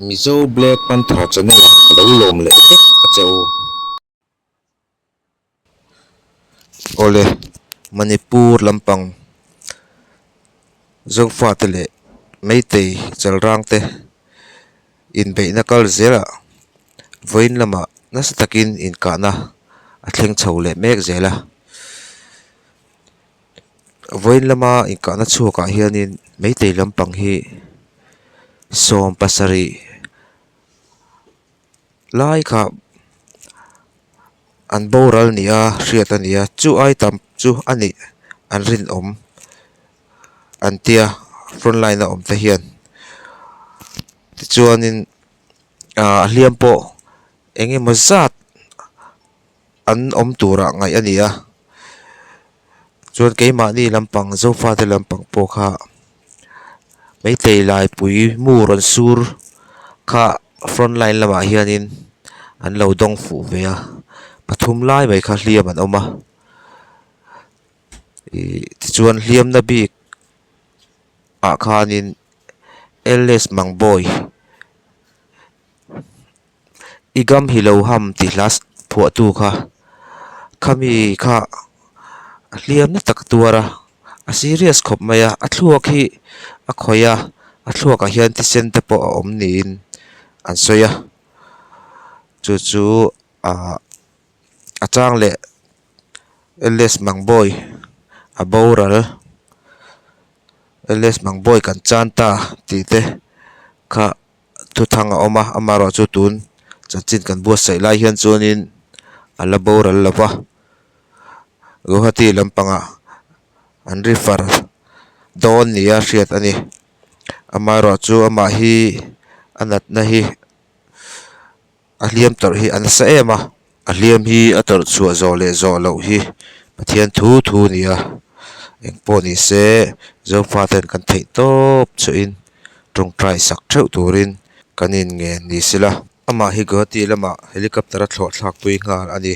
Mizo Black Panther channel ah ka lo lawm leh vek a che u. Awle Manipur lampang Zofa te leh Meitei chalrang te inbeihna kal zel ah vawiin lama nasa takin inkahna a thleng chho leh mek zel a. Vawiin lama inkahna chhuakah hianin Meitei lampang hi sawm pasarih lai kha an boral ni a hriat a ni a chu ai tam chu a nih an rinawm an tia front line a awmte hian tichuanin ahh a hliam pawh eng emaw zat-- an awm turah ngaih a ni a chuan keimahni lampang Zofa te lampang pawh kha Meitei Laipui mu rawn sur kha front line lamah hianin an lo dawng fuh ve a pathum lai mai kha hliam an awm a ihh tichuan hliamna bik ah khanin Ls Mangbawi. I gam hi lo ham tih hla phuahtu kha khami kha a hliam na tak a tuar a, a serious khawp mai a, a thluak hi a khawih a, a thluakah hian thisen te pawh a awm niin an sawi a, chu chu ah a chang leh Ls Mangbawi a boral Ls Mangbawi kan chan ta tih te kha. thuthang a awm a amaherawhchu chu tun chanchin kan buatsaih lai hian chuanin a la boral lo va guwahati lampangah an refer dawn nia hriat a ni amaherawhchu amah hi a natna hi-- a hliam tawrh hi a nasa em a a hliam hi a tawrh chhuah zawh leh zawh loh hi pathian thu thu a ni a eng pawh ni se Zofa te hian kan theih tawp chhuah in tawngtai sak theuh tur in kan in ngen ni se la amah hi Guwahati lamah helicopter a thlawhthlak pui nghal a ni.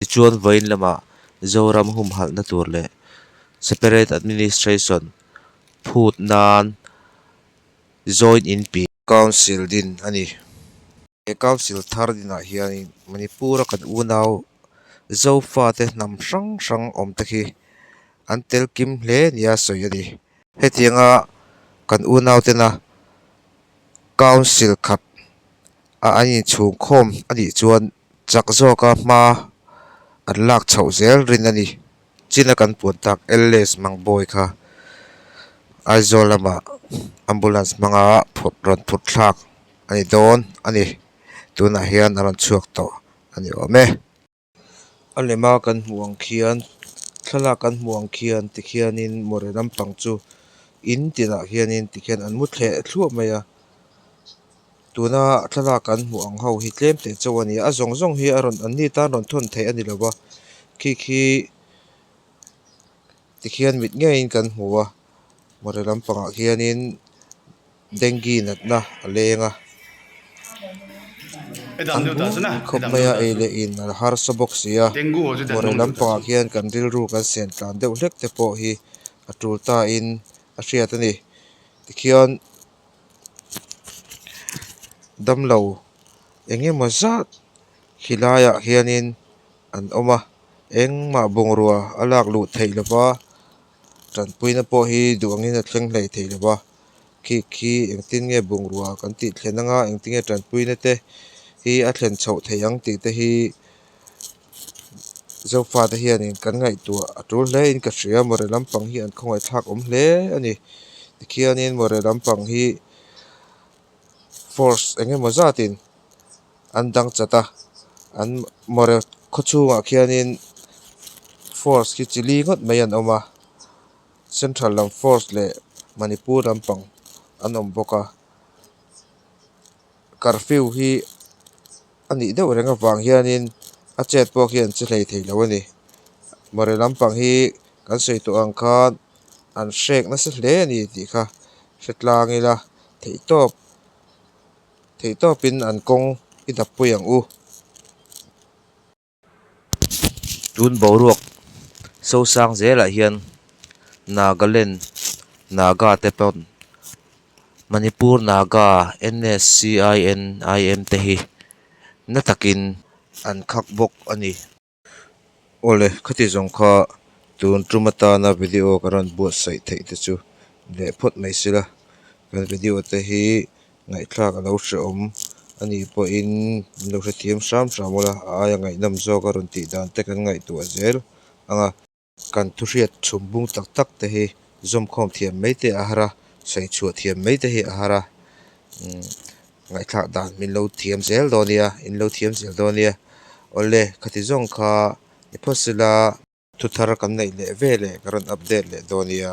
Tichuan vawiin lamah Zoram humhalhna tur leh Separate Administration phut nan Joint Inpi, Council, din a ni. He Council thar dinah hianin Manipura kan unau Zofate hnam hrang hrang awmte khi an tel kim hle nia sawi a ni. Hetianga kan unautena Council khat a an inchhungkhawm a nih chuan Chak zawka hma an lak chhoh zel rin a ni. Chin a kan puan tak Ls Mangbawi kha Aizawl lama ambulance hmanga rawn phutthlak a ni dawn a ni. Tunah hian a rawn chhuak tawh a ni awm e. A lema kan hmuh ang khian, thlalak kan hmuh ang khian tikhianin Mawhre lampang chu in tinah hianin tikhian an mu thleh thluah mai a. Tuna thlalak kan hmuh ang ho hi tlem teh chauh a ni a a zawng zawng hi a rawn an ni tan rawn thawn theih a ni lo va khi khi tikhian mit ngei in kan hmu a Mawhre lam pang ah hian in dengue nat na a leng a an bung khawp mai a ei leh in a la harsa bawk sia Mawhre lam pang ah hian kan rilru kan siam tlan deuh hlek te pawh hi a tul ta in a hriat a ni tikhian-- damlo eng emaw zat hi laiah hianin an awm a engmah bungrua a lak luh theih lova tanpuina pawh hi duh angin a thleng hlei theih lova khik hi engtin nge bungrua kan tih thlen anga engtin nge tanpuina te hi a thlen chhoh theih ang tih te hi-- Zofate hianin kan ngaihtuah a tul hle in ka hria Mawhre lampang hi an khawngaihthlak awm hle a ni tikhianin Mawhre lampang hi force eng emaw zatin an dang chat a an Mawhre khaw chhungah khianin force hi chi li ngawt mai an awm a central lam force leh Manipur lampang an awm bawk a. curfew hi a nih deuh reng avang hianin a chet pawh khi an che hlei thei lo a ni mawri lampang hi kan sawi tawh ang khan an hrek nasa hle a ni tih kha hre tlang ila theihtawp theihtawp in an kawng idap pui ang u. Tun boruak sosang zel ah hian Nagaland Naga te pawn Manipur Naga NSCINIM te hi na takin an khak bawk a ni. Awle khati zawng kha tun tum atana video ka rawn buatsaih theih te chu leh phawt mai sila kan video te hi. ngaihthlak a lo hrehawm a ni pawhin min lo hrethiam hram hram awnla a aia ngaihnam zawk a rawn tihdan te kan ngaihtuah zel anga kan thuhriat chhungbung tak tak te hi zawmkhawm thiam mai te a har a sawichhuah thiam mai te hi a har a umm ngaihthlak dan min lo thiam zel dawn nia in lo thiam zel dawn nia awle khati zawng kha ni phawt sela thu thar kan neih leh ve leh ka rawn update leh dawn nia.